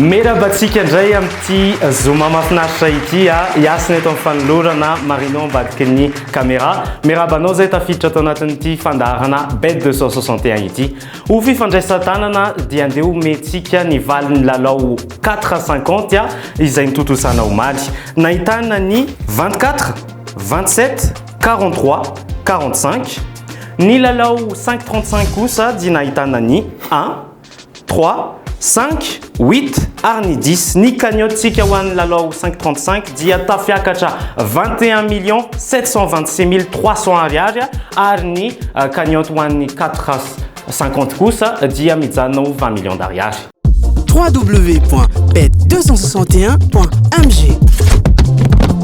Merabantsika indray amin'ity Zoma mahafinaritra ity a. Ah. Hiasina eto amin'ny fanolorana Marino ambadiky ny caméra. Merabanao izay tafiditra ato anatin'ity fandaharana Bet 261 ity. Ho fifandraisan-tanana dia andeha omentsika ny valin'ny lalao quatre à cinquante izay notontosana omaly. Nahitana ny vingt quatre, vingt sept, quarante trois, quarante cinq. Ny lalao cinq trente cinq kosa dia nahitana ny un, trois, cinq. Huit ary ny dix, ny cagnotte-tsika ho an'ny lalao cinq trente cinq dia tafiakatra vingt et un millions sept cent vingt six mille trois cents ariary ary ny cagnotte ho an'ny quatre cinquante kosa dia mijanona ho vingt millions d'ariary. www.bet261.mg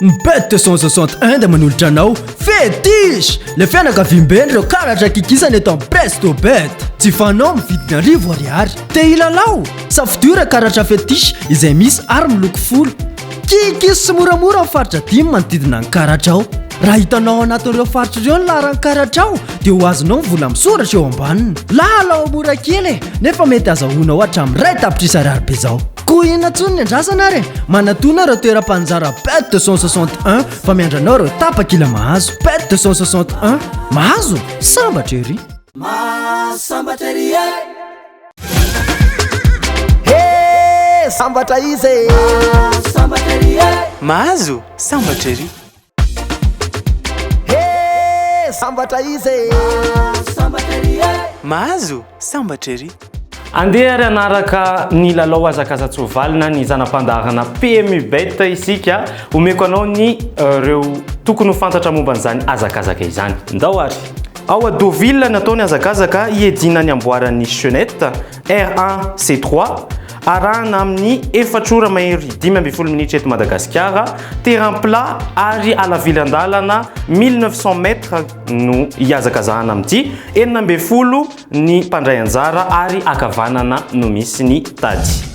Ny Bête 261 dia manolotra anao Fetish! Ilay fianakaviambe an'ireo karatra kikisana eto amin'ny Presto Bête. Jifainao amin'ny vidiny arivo ariary. Te hilalao? Safidio ireo karatra Fetish izay misy ary miloko folo. Kikis sy moramora amin'ny faritra dimy manodidina ny karatrao. Raha hitanao ao anatin'ireo faritra ireo ny laharan'ny karatrao dia ho azonao ny vola misoratra eo ambaniny. Lalao mora kely e! Nefa mety azahoanao hatramin'ny iray tapitrisa ariary be izao. Koa inona intsony ny andrasana ary e? Manatona ireo toeram-panjara PET 261 fa miandranao ireo tapakila mahazo PET 261. Mahazo? Sambatra ery! Mahazo sambatra ery e! He! Sambatra izy e! Mahazo sambatra ery e! Mahazo sambatra ery! Hee sambatra izy e! Mahazo sambatra ery e! Mahazo sambatra ery! Andeha ary hanaraka ny lalao hazakaza-tsoavaly na ny zana-pandaharana PMU Bet isika. Omeko anao ny ireo tokony ho fantatra momba an'izany hazakazaka izany. Ndao ary! Ao à Deauville no atao ny hazakazaka hiediana ny amboaran'ny Chenette. R1, C3, arahana amin'ny efatra ora mahery dimy ambin'ny folo minitra eto Madagasikara, terrain plat ary halavilan-dalana 1900 mètres no hihazakazahana amin'ity, enina ambin'ny folo ny mpandray anjara ary ankavanana no misy ny tady.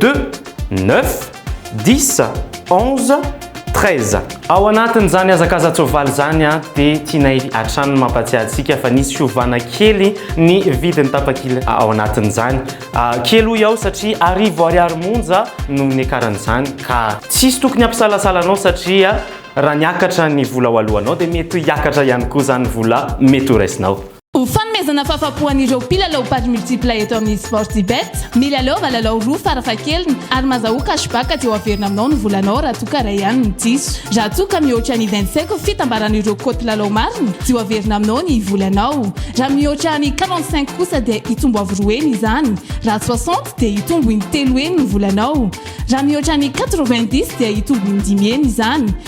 Deux, neuf, dix, onze, treize. Ao anatin'izany hazakaza-tsoavaly izany dia tianay hatrany ny mampahatsiahy antsika fa nisy fiovana kely ny vidin'ny tapakila ao anatin'izany. Kely hoy aho satria arivo ariary monja no niakaran'izany ka tsy hisy tokony hampisalasala anao satria raha niakatra ny vola ho alohanao dia mety hiakatra ihany koa izany vola mety ho raisinao. Ho fanomezana fahafapo an'ireo mpilalao paris multiple eto amin'ny Sportybet, mila lova lalao roa farafahakeliny ary mazahoa cashback dia ho averina aminao ny volanao raha toa ka iray ihany no diso. Raha toa ka mihoatra ny vingt cinq fitambaran'ireo cote lalao marina dia ho averina aminao ny volanao. Raha mihoatra ny quarante cinq kosa dia hitombo avo roa heny izany. Raha soixante dia hitombo in-telo heny ny volanao. Raha mihoatra ny quatre vingt dix dia hitombo in-dimy heny izany.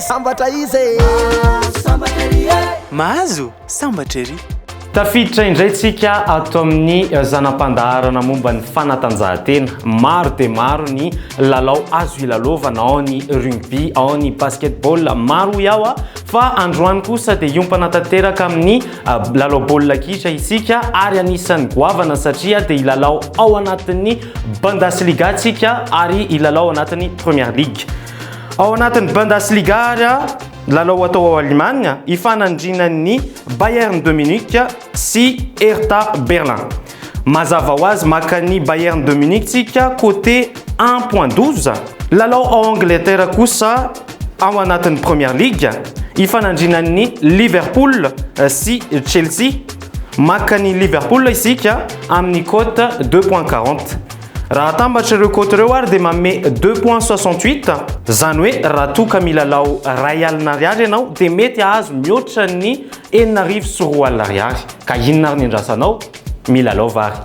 Sambatra izy e Sambatra ery e Mahazo sambatra ery Tafiditra indray tsika ato amin'ny eh, zana-pandaharana momba ny fanatanjahantena. Maro dia maro ny lalao azo ilalaovana ao ny rugby, ao ny basketball. Maro hoy aho ah, Fa androany kosa dia hiompana tanteraka amin'ny lalao baolina kitra isika ary anisan'ny goavana satria dia hilalao ao anatin'ny Bundesliga isika ary hilalao ao anatin'ny Premier League. Ao anatin'ny Bundesliga ary, lalao atao ao Alemana, hifanandrinan'ny Bayern de Munich sy Hertha Berlin. Mazava ho azy maka an'i Bayern de Munich tsika côté un point douze. Lalao ao Angleterre kosa ao anatin'ny Première Ligue ifanandrinan'ny Liverpool sy Chelsea. Maka an'i Liverpool isika amin'ny côte deux point quarante. Raha atambatra ireo côte ireo ary dia manome deux point soixante huit. Izany hoe raha toa ka milalao iray alina ariary ianao dia mety hahazo mihoatra ny Enina arivo sy roa alina ariary, ka inona ary ny andrasanao? Milalao va ry.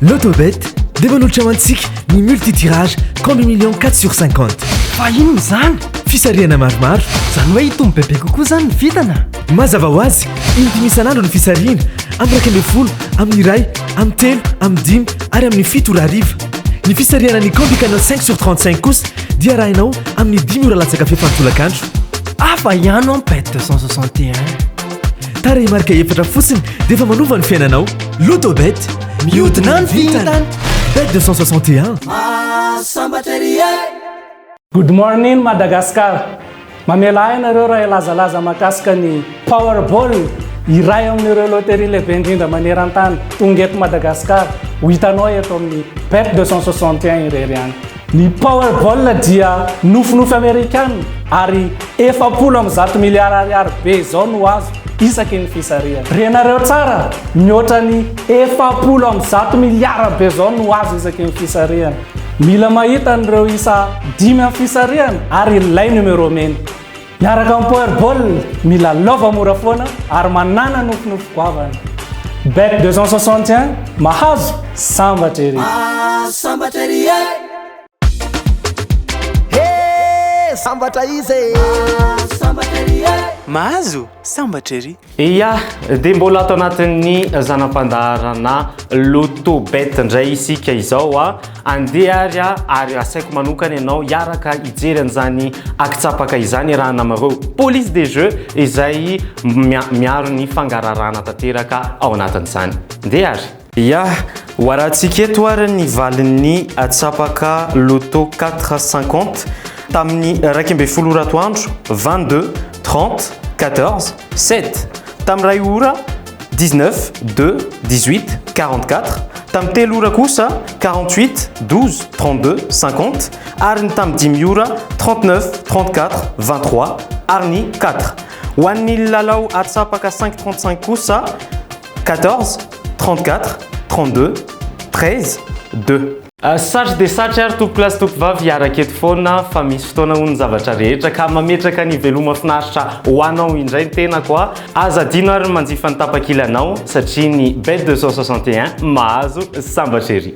Lotobet dia manolotra ho antsika ny multi tirage combi million quatre sur cinquante. Fa inona izany? Fisarihana maromaro. Izany hoe hitombo bebe kokoa izany ny vintana? Mazava ho azy, in-dimy isan'andro ny fisarihina, amin'ny iraika ambin'ny folo, amin'ny iray, amin'ny telo, amin'ny dimy ary amin'ny fito ora hariva. Ny fisarihana ny combi canal cinq sur trente cinq kosa dia arahinao amin'ny dimy ora latsaka fepany tolakandro. Hafa ihany an pet 261 Tarehy marika efatra fotsiny dia efa manova ny fiainanao Loto bet Mihodina ny vintana Bet 261 Mahasambatra ery e Good morning Madagascar! Mamela ahy ianareo raha hilazalaza mahakasika ny Powerball, iray amin'ireo loterie lehibe indrindra maneran-tany, tonga eto Madagasikara, ho hitanao eto amin'ny Bet 261 irery ihany. Ny Powerball dia nofinofy Amerikana ary efapolo amby zato miliara ariary be izao no azo isaky ny fisarihana. Renareo tsara, mihoatra ny efapolo amby zato miliara be izao no azo isaky ny fisarihana. Mila mahita an'ireo isa dimy amin'ny fisarihana ary ilay numéro mena. Miaraka amin'ny Power Ball, mila lova mora foana ary manana nofinofy goavana. Bet 261, mahazo, sambatra ery! Ah, sambatra ery e! Hey, sambatra izy e! Ah, sambatra ery e! Mahazo, sambatra ery! Ia, dia mbola ato anatin'ny zana-pandaharana Loto Bet indray isika izao. Andeha ary ary asaiko manokana ianao hiaraka hijery an'izany akitsapaka izany iarahana amin'ireo police des jeux izay miaro ny fangararahana tanteraka ao anatin'izany. Andeha ary! Ya, ho arahantsika eto ary ny valin'ny atsapaka Loto quatre cinquante tamin'ny iraika ambin'ny folo ora atoandro, vingt deux, trente, quatorze, sept, tamin'ny iray ora, dix neuf, deux, dix huit, quarante quatre, tamin'ny telo ora kosa, quarante huit, douze, trente deux, cinquante, ary ny tamin'ny dimy ora, trente neuf, trente quatre, vingt trois, ary ny quatre. Ho an'ny lalao atsapaka cinq trente cinq kosa, Quatorze, trente quatre, trente deux, treize, deux. Satry dia satry ary tompoko lahy sy tompoko vavy hiaraka eto foana fa misy fotoana hono ny zavatra rehetra ka mametraka ny veloma finaritra ho anao indray ny tenako a! Aza adino ary ny manjifa ny tapakilanao satria ny Bet 261 mahazo sambatra ery!